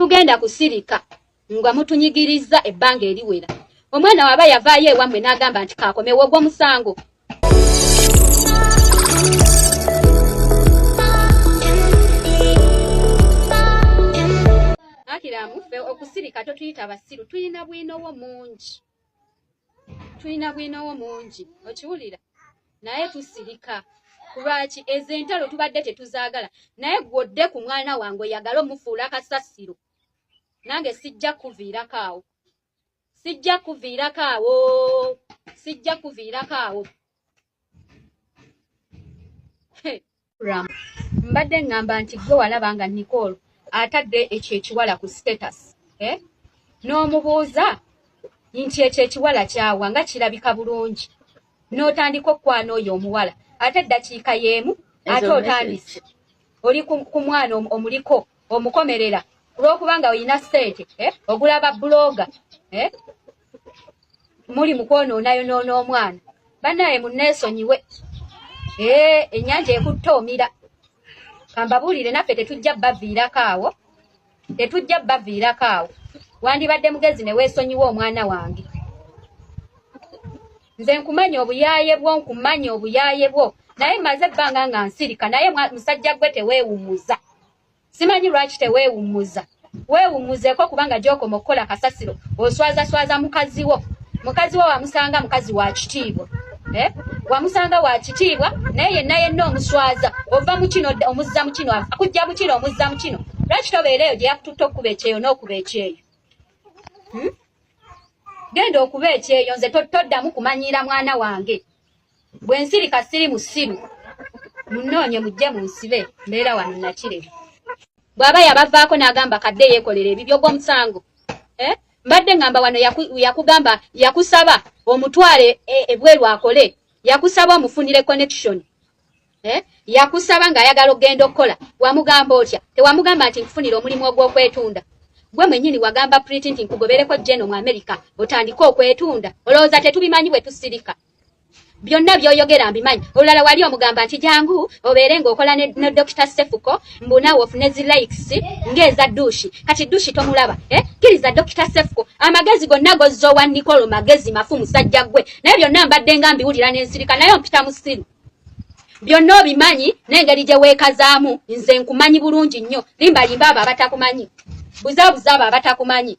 temugenda kusirika nga mutunyigirizza ebbanga eriwera omwana waba yavaayo ewammwe n'agamba nti kaakomewo ogwo musango akiramu ffe okusirika totuyita basiru tulina bwino wo mungi tulina bwinowo mungi okiwulira naye tusirika kulwaki ezo entalo tubadde tetuzaagala naye gwodde ku mwana wange oyagala omufuula kasasiro nange sijja kuviirako awo sijja kuviirako awo sijja kuviirako awo Ram. Mbadde ngamba nti gwe walaba nga Nicole atadde ekyo ekiwala ku status. Eh? N'omubuuza nti ekyo ekiwala kyawa nga kirabika bulungi. N'otandika okukwana oyo omuwala. Ate eddakiika y'emu ate otandise. Oli ku mwana omuliko omukomerera olw'okuba nga olina ssente eh? ogula ba buloga eh? muli mukwonoonayonoona omwana banaye muneesonyiwe ee ennyanja ekutta omira kambabuulire naffe tetujja baviirako awo tetujja baviirako awo wandibadde mugezi ne weesonyiwa omwana wange nze nkumanya obuyaaye bwo nkumanya obuyaaye bwo naye maze ebbanga nga nsirika naye musajja gwe teweewummuza simanyi lwaki teweewummuza weewummuzeeko kubanga gy'okoma okukola kasasiro oswazaswaza mukazi wo mukazi wo wamusanga mukazi wa kitiibwa eh? wamusanga wa kitiibwa naye yenna yenna omuswaza ova mu kino omuzza mu kino akujja mu kino omuzza mu kino lwaki tobeera eyo gye yakututte okukuba ekyeyo n'okuba ekyeyo hmm? genda okuba ekyeyo nze toddamu kumanyiira mwana wange bwe nsirika siri musiru munnoonye mujje mu nsibe mbeera wano nakirebe bw'aba yabavaako n'agamba kadde yeekolera ebibyo gw'omusango eh? mbadde ngamba wano yakugamba yakusaba omutwale e, ebweru akole yakusaba omufunire connection eh? yakusaba ng'ayagala okugenda okukola wamugamba otya tewamugamba nti nkufunire omulimu ogw'okwetunda gwe mwenyini wagamba priti nti nkugobereko jeno mu amerika otandike okwetunda olowooza tetubimanyi bwe tusirika byonna byoyogera mbimanyi olulala wali omugamba nti jangu obeere ng'okola ne, ne dokita sefuko mbu naawe ofune zi likes ng'eza dushi kati dushi tomulaba eh? kiriza dokita sefuko amagezi gonna gozza owa nikolo magezi mafu musajja gwe naye byonna mbadde nga mbiwulira n'ensirika naye ompita musiru byonna obimanyi n'engeri gye weekazaamu nze nkumanyi bulungi nnyo limbalimba abo abatakumanyi buzabuza abo abatakumanyi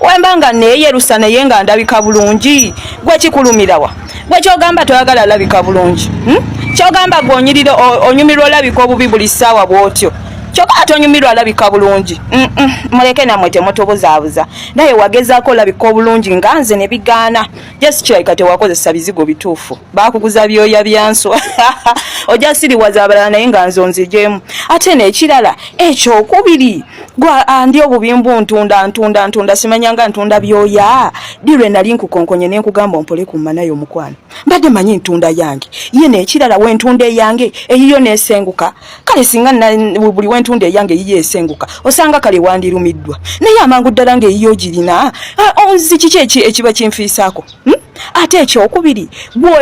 wemba nga neyerusa naye nga ndabika bulungi gwe kikulumirawa gwe kyogamba toyagala alabika bulungi hmm? kyogamba gwe onyirira onyumirwa olabika obubi buli ssaawa bwotyo kyoka ate onyumirwa alabika bulungi muleke namwe temutubuzaabuza naye wagezaako olabika obulungi nga nze ne bigaana just kirabika tewakozesa bizigo bituufu baakuguza byoya byanswa ojasiriwaza abalala naye nga nze onzigyemu ate nekirala ekyokubiri gwa andi ah, obubimbu ntunda ntunda ntunda simanyanga ntunda byoya dirwe nali nkukonkonye ne nkugamba ompole ku mana yo mukwano mbadde manyi ntunda yange ye ne kirala we ntunda yange eyiyo ne senguka kale singa na buli we ntunda yange yiye esenguka osanga kale wandi lumiddwa naye amangu ddala nga eyiyo girina ah, onzi kiki ekiba kinfiisako hmm? ate ekyokubiri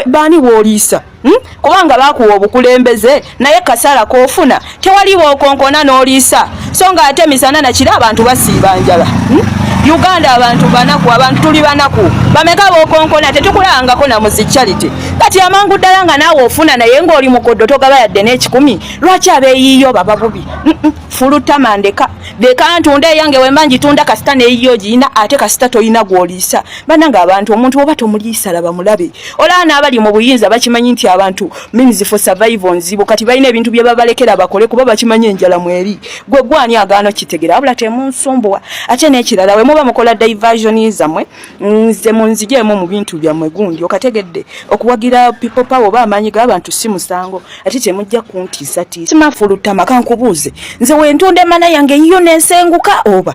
baani wooliisa Hmm? kubanga bakuwa obukulembeze naye kasala kofuna tewali bwokonkona noliisa so nga ate misana nakiri abantu basiiba njala hmm? uganda abantu banaku abantu tuli banaku bameka bokonkona tetukulangako na muzicharity kati amangu ddala nga naawe ofuna naye ngaoli mukoddo togaba yadde n'ekikumi lwaki abeeyiiyo baba bubi hmm, fulutamandeka leka ntunda eyange wemba njitunda kasita neyiyo giyina ate kasita toyina gwoliisa bananga abantu omuntu oba tomuliisa laba mulabe olaba n'abali mu buyinza bakimanyi nti abantu means for survival nzibu kati balina ebintu bye babalekera bakole kuba bakimanyi enjala mweri gwe gwani agaano kitegera wabula temunsumbuwa ate n'ekirala we muba mukola diversion zamwe nze munzijeemu mu bintu byammwe gundi okategedde okuwagira people power oba amaanyi g'abantu si musango ate temujja kuntiisatiisa simafulutama kankubuuze nze wentunda emana yange yiyo nensenguka oba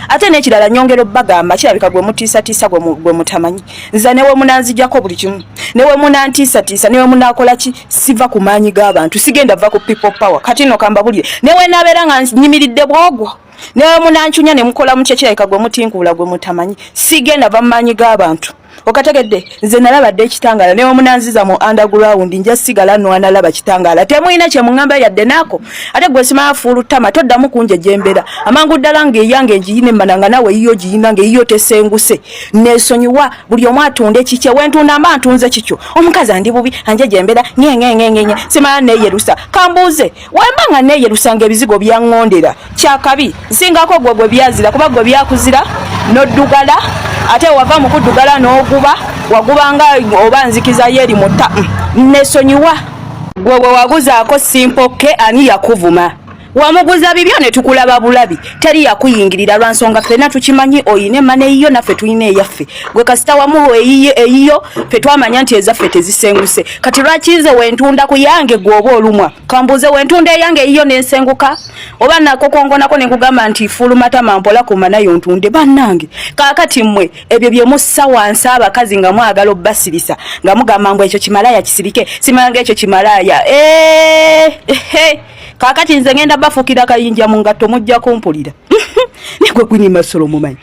ate nekirala nyongero bagamba kirabika gwe mutiisatiisa gwe mutamanyi nza newe munanzijako buli kimu newe munantiisatiisa newe munakola ki siva ku maanyi g'abantu sigenda va ku people power kati no kambabulire newe nabeera nga nyimiridde bwogwo newe munancunya ne mukola mu kyekirabika gwe mutinkuula gwe mutamanyi sigenda va mu maanyi g'abantu okategedde nze nalaba dde ekitangala newamunanziza mu underground nja sigala nwanalaba kitangala temulina kyemuŋamba yadde naako ate gwe simala fuulu tama toddamu kunja gyembera amangu ddala nga eyange ngiyina emmana nga nawe eyiyo giyina nga eyiyo tesenguse nesonyiwa buli omu atunda ekikye wentunda mba ntunze kikyo omukazi andi bubi anje gyembera nyengengengenye simala neyerusa kambuuze wemba nga neyelusanga ebizigo byaŋŋondera kyakabi nsingako gwe gwe byazira kuba gwe byakuzira noddugala ate wava mu kuddugala n'oguba wagubanga oba nzikiza yeeri mutta mm, nesonyiwa gwe bwe waguzaako simpokke ani yakuvuma wamuguza bibyo ne tukulaba bulabi teri yakuyingirira lwa nsonga ffena tukimanyi oyina emana eyiyo naffe tulina eyaffe gwe kasita wamuwa eyiyo ffe twamanya nti ezaffe tezisenguse kati lwaki nze wentunda ku yange gwoba olumwa kambuuze wentunda eyange eyiyo nensenguka oba nakokongonako nenkugamba nti fulumatama mpola kuma nayo ntunde bannange kakati mmwe ebyo byemussa wansi abakazi nga mwagala obbasirisa nga mugamba mbu ekyo kimalaya kisirike simalanga ekyo kimalaya eh, eh, eh. kakati nze ngenda bafukira kayinja mu ngatto mujja kumpulira negwe gwini masolo mumanyi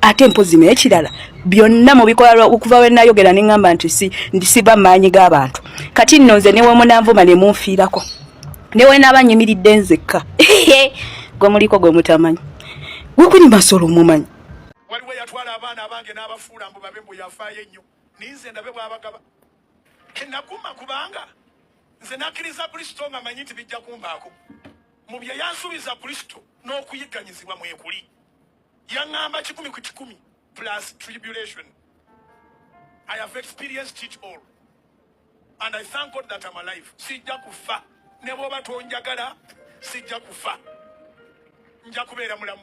ate mpozi naye kirala byonna mubikola okuva we nayogera ne ŋŋamba nti si ndisiba maanyi g'abantu kati nno nze ne wemunanvuma ne munfiirako ne we naaba nyimiridde nzekka gwe muliko gwe mutamanyi gwe kuli masolo omumanyi waliwo yatwala abaana abange n'abafuula mbu babe mbu yafaayo ennyo ninze ndabe bwabagaba kenaguma kubanga nze nakkiriza kristo nga manyi nti bijja kumbaako mu bye yansuubiza kristo n'okuyigganyizibwa mwekuli yaŋŋamba kikumi ku kikumi plus tribulation i have experienced it all and i thank god that am alive sijja kufa ne bwoba tonjagala sijja kufa nja kubeera mulamu